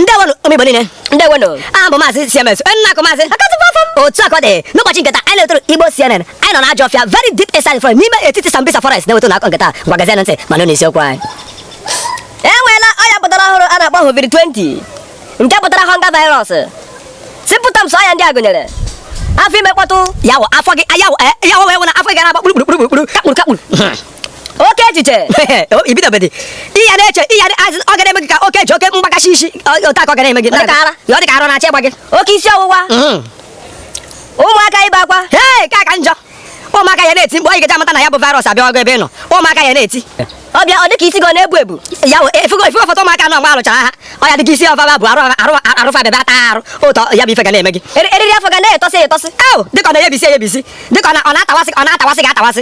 ndewonu ụmụ igbo niile ndewonu aha m bụ maazị cms onye a na-akpọ maazị otu aka ọ dị n'ụbọchị nke taa anyị na-etoro igbo cnn anyị nọ na ajọ ọfịa very deep inside forest n'ime etiti sambisa forest na-eweta unu akụkọ nke taa ngwa geezie ntị ma nụ isiokwu anyị e nweela ọya pụtara ọhụrụ a na-akpọ hovid 20 nke pụtara hunger virus symptoms ọya ndị a gụnyere afọ ime mkpọtụ ya wụ afọ gị ya wụ ya wụ wee wụ na afọ gị ga na-agba kpuru kpuru kpuru kpuru kakpuru kakpuru oke echiche ibidobedi ihe na-eche ihe ọ ga na-eme gị ka oke ji oke mgbakashi isi otu aka ọ ga na-eme gị ọ dị ka ara na-achọ ịgba gị oke isi ọwụwa mm. ụmụaka ibe akwa ee nke ka njọ ụmụaka ya na-eti mkpu anyị ga-eji amata na ya bụ virus abịago ebe ị nọ ụmụaka ya na-eti ọ bịa ọ dịka isi gị ọ na-ebu ebu ya ị fugo ị fugo foto ụmụaka nọ mgbe a lụchara agha ọ ya dịka isi ọfaba bụ arụ fa bebe ata arụ ụtọ ya bụ ife ga na-eme gị eriri afọ ga na-etọsị etọsị dịka ọ na-eyebisi eyebisi dịka ọ na-atawasị ọ na-atawasị ga-atawasị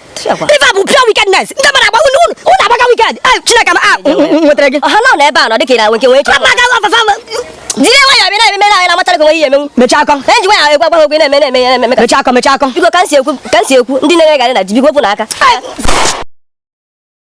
ife a bụ pure wickedness ndị mmadụ agba unu unu unu agbaga wicked chineke ma nwetara gị ọha nọ n'ebe a nọ dịka ị na-enwe nke nwee ike agbaga ọfafa jiri nwayọ bịa na-eme na na amatara ka onwe ihe emenwu mechaa akọ e ji nwayọ egwu agbaghị ogwe na-eme na-eme ya na-eme mechaa akọ mechaa akọ biko ka m si ekwu ka m si ekwu ndị na-ere garị na ji biko wepụnụ aka